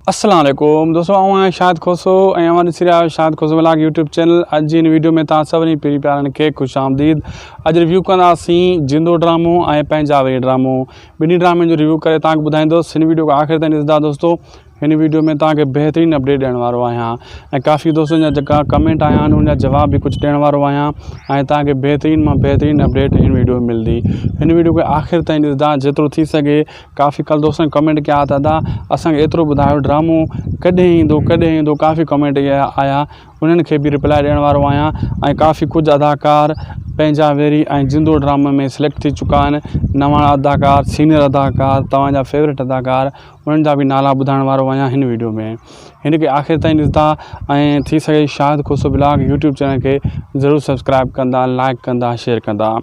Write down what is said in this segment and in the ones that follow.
اسلام عليڪم دوستو آئون آهيان شاهد کوسو ۽ اوهان ڏسي رهيا آهيو Shahid Khoso vlog YouTube channel اڄ جي هن ويڊيو ۾ توهان سڀني پيري پيارن کي خوش آمديد اڄ ريويو ڪنداسين جندو ڊرامو ۽ پنهنجا وري ڊرامو ٻنهي ڊرامن جو ريويو ڪري توهان کي ٻڌائيندوس هن ويڊيو کي آخر تائين ڏسندا دوستو هن ويڊيو ۾ توهان کي بهترين اپڊيٽ ڏيڻ وارو آهيان ۽ ڪافي دوستن جا جيڪا ڪمينٽ آيا آهن ان جا جواب به ڪجهه ڏيڻ وارو آهيان ۽ توهان کي بهترين مان بهترين اپڊيٽ هن ويڊيو ۾ ملندي هن ويڊيو کي آخر تائين ڏسندا جيترو ٿي سگهي ڪافي ڪالھ دوستن ڪمينٽ ڪيا ته ادا اسان کي ايترو ٻڌايو ڊرامو ڪڏهن ايندو ڪڏهن ايندو ڪافي ڪمينٽ ڪيا آيا انهن کي بي ريپلائي ڏيڻ وارو آهيان ۽ ڪافي ڪجهه اداڪار پنهنجا ويري ۽ زندو ڊرامي ۾ سليڪٽ ٿي چڪا آهن نواڻ اداڪار سينيئر اداڪار توهانجا فيوريٽ اداڪار انهن جا به نالا ٻڌائڻ وارو آهيان هن ويڊيو ۾ هن کي آخر تائين ڏسندا ۽ ٿي سگهي Shahid Khoso blog YouTube channel کي ضرور سبسڪرائب ڪندا لائڪ ڪندا شيئر ڪندا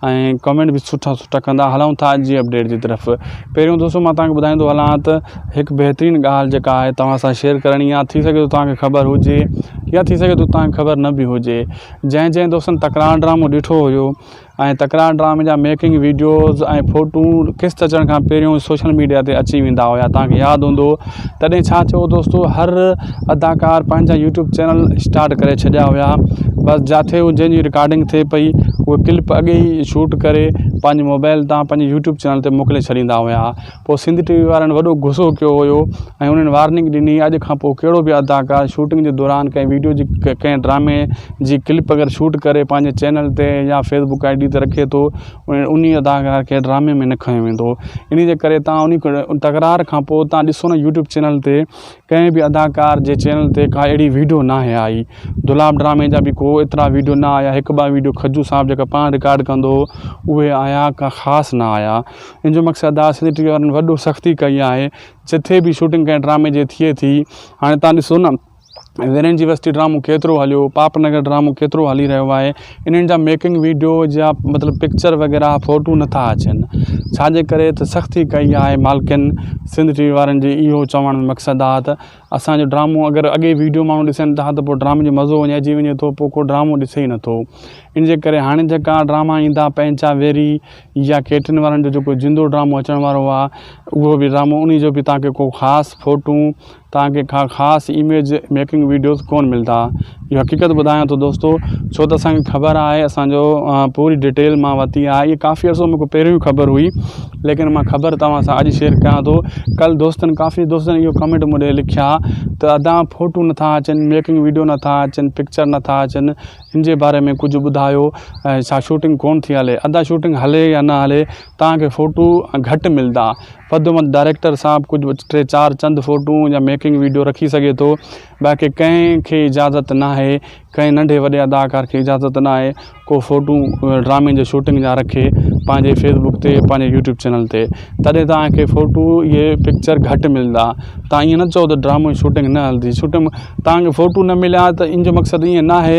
۽ ڪمينٽ به سٺا سٺا ڪندا هلون ٿا جي اپڊيٽ جي طرف پهريون دوستو مان توهان کي ٻڌائيندو هلان ته هڪ بهترين ڳالهه جيڪا آهي توهان سان شيئر ڪرڻي آهي ٿي سگهي ٿو توهان کي خبر هجي يا ٿي سگهي ٿو توهان کي خبر نه به هجي جنهن جنهن دوستن تڪرار ڊرامو ڏٺو هيو ۽ تڪرار ڊرامي جا ميڪنگ ويڊيوز ۽ فوٽو قسط اچڻ کان پهريون سوشل ميڊيا تي اچي ويندا هيا توهان کي ياد هوندو تڏهن ڇا ٿيو دوستو هر اداڪار پنهنجا يوٽيوب چينل اسٽارٽ ڪري ڇڏيا هيا بس جاٿي هو جنهنجي رڪارڊنگ ٿئي پئي هو ڪلپ اڳ ئي شوٽ ڪري پنهنجي موبائل تان پنهنجي يوٽيوب چينل تي موڪلي ڇڏيندا هيا پوء سنڌ ٽي وي وارن وڏو غصو ڪيو هيو ۽ انهن وارننگ ڏني اڄ کان پوء ڪهڙو به اداڪار شوٽنگ جي دوران ڪنهن ويڊيو جي ڪنهن ڊرامي جي ڪلپ اگر شوٽ ڪري پنهنجي چينل تي يا فيسبوڪ آئي ڊي تي رکي ٿو انهي اداڪار کي ڊرامي ۾ نه کنيو ويندو انهي جي ڪري توهان انهي تڪرار کان پوء توهان ڏسو نه يوٽيوب چينل تي ڪنهن به اداڪار جي چينل تي ڪا اهڙي ويڊيو نه آهي آئي دولاب ڊرامي جا به ڪو ايترا ويڊيو نه آيا هڪ ٻه ويڊيو کجو صاحب جيڪا پاڻ رڪارڊ ڪندو هو اهي آيا ڪا خاص نه آيا ان جو مقصد ادا سنڌ ٽي وي وارن وڏو سختي ڪئي آهي جتي به شوٽنگ ڪنهن ڊرامي جي ٿئي ٿي هاڻي توهان ڏسو نه ويرين جي وستي ڊرامو ڪيترو هليو پاپ نگر ڊرامو ڪيترو هلي رهيو آهي انهن جا ميڪنگ ويڊيو جا مطلب پڪچر وغيره ڦوٽو نٿا اچن ڇاجي ڪري ته سختي ڪئي آهي مالڪن سنڌ ٽي وي وارن جي اهو چوڻ جو مقصد آهي ته اسانجو ڊرامو اگر اڳي ويڊيو ماڻهو ڏسن ٿا ته پوء ڊرامي جو مزو وڃائي جي وڃي ٿو پوء ڪو ڊرامو ڏسي ئي نٿو ان جي ڪري هاڻي جيڪا ڊراما ايندا پنهنجا ويري يا ڪيٽرن وارن جو جيڪو زندو ڊرامو اچڻ وارو آهي اهو به ڊرامو انهي جو به تانکي ڪو خاص ڦوٽون تان کي ڪا خاص اميج ميڪنگ ويڊيوز ڪون ملدا اهو حقيقت ٻڌايان ٿو دوستو ڇو ته اسان کي خبر آهي اسان جو پوري ڊيٽيل مان ورتي آهي اهي ڪافي عرصو مون کي پهريون ئي خبر هئي ليڪن مان خبر توهان سان اڄ شيئر ڪيان ٿو ڪل دوستن ڪافي دوستن اهو ڪمينٽ مون ڏي لکيا ته ادا فوٽو نٿا اچن ميڪنگ ويڊيو نٿا اچن پڪچر نٿا اچن ان جي باري ۾ ڪجهه ٻڌايو ڇا شوٽنگ ڪون ٿي هلي ادا شوٽنگ هلي يا نه هلي تان کي فوٽو گهٽ ملدا پدومت ڊائريڪٽر صاحب ڪجهه ٽي چار چند فوٽون يا ميڪنگ ويڊيو رکي سگهي ٿو باقي ڪنهن کي اجازت ناهي ڪنهن ننڍي وڏي اداڪار کي اجازت ناهي ڪو فوٽون ڊرامي جي شوٽنگ جا رکي پنهنجي فيس بڪ تي پنهنجي يوٽيوب چينل تي تڏهن توهان کي فوٽو اهي پڪچر گهٽ ملندا توهان ائين نه چئو ته ڊرامو جي شوٽنگ نه هلندي شوٽنگ توهان کي فوٽو نه مليا ته ان جو مقصد ائين ناهي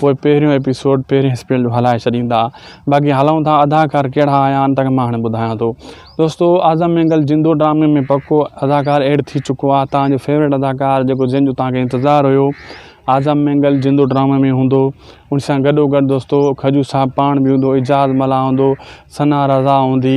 پوء پهريون ايپيسوڊ پهرين اسپيڊ جو هلائي ڇڏيندا باقي هلون ٿا اداڪار ڪهڙا آيا آهن تنهن مان هاڻي ٻڌايان ٿو دوستو اعظم مينگل زندو ڊرامي ۾ پڪو اداڪار ايڊ ٿي چڪو آهي تنهن جو فيوريٽ اداڪار جيڪو جنهن جو تنهن کي انتظار هيو اعظم مينگل زندو ڊرامي ۾ هوندو ان سان گڏو گڏ دوستو کجو صاحب پاڻ به هوندو اعجاز ملاح هوندو ثنا رضا هوندي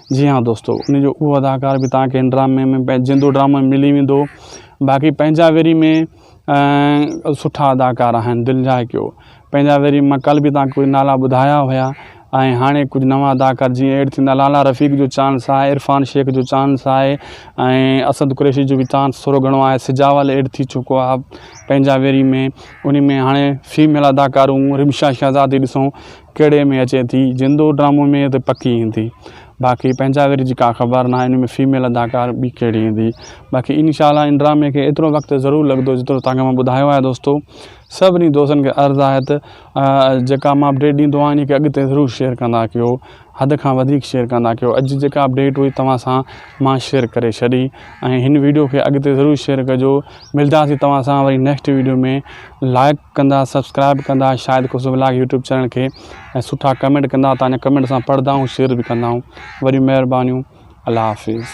جي ھا دوستو ان جو اھو اداڪار به توھان کي ھن ڊرامي ۾ پنھنجي زندو ڊرامو ۾ ملي ويندو باقي پنھنجا ويري ۾ سٺا اداڪار آھن دل جا ھڪيو پنھنجا ويري مان ڪل به توھان کي نالا ٻڌايا ھيا ۽ ھاڻي ڪجھ نوان اداڪار جيئن ايڊ ٿيندا لالا رفيق جو چانس آھي عرفان شيخ جو چانس آھي ۽ اسد قريشي جو به چانس ٿورو گھڻو آھي سجاول ايڊ ٿي چڪو آھي پنھنجا ويري ۾ انھي ۾ ھاڻي فيميل اداڪارون رمشا شھزادي ڏسون ڪهڙي ۾ اچي ٿي جندو ڊرامو ۾ ته پڪي ايندي باقي پنهنجا وري جي ڪا خبر ناهي ان ۾ فيميل اداڪار ٻي ڪهڙي ايندي باقي ان شاء الله ان ڊرامي کي ايترو وقت ضرور لڳندو جيترو تانکي مان ٻڌايو آهي دوستو سڀني دوستن کي عرض آهي ته جيڪا مان اپڊيٽ ڏيندو آهيان ان کي اڳتي ضرور شيئر ڪندا ڪيو حد کان وڌيڪ شيئر ڪندا ڪيو اڄ جيڪا اپڊيٽ هئي توهان سان مان شيئر ڪري ڇڏي ۽ هن ويڊيو کي اڳتي ضرور شيئر ڪجو ملداسي توهان سان وري نيڪسٽ ويڊيو ۾ لائق ڪندا سبسڪرائب ڪندا Shahid Khusro vlog YouTube channel کي ۽ سٺا ڪمينٽ ڪندا تنهنجا ڪمينٽ اسان پڙهندا آهيون شيئر به ڪندا آهيون وڏيون مهربانيون الله حافظ.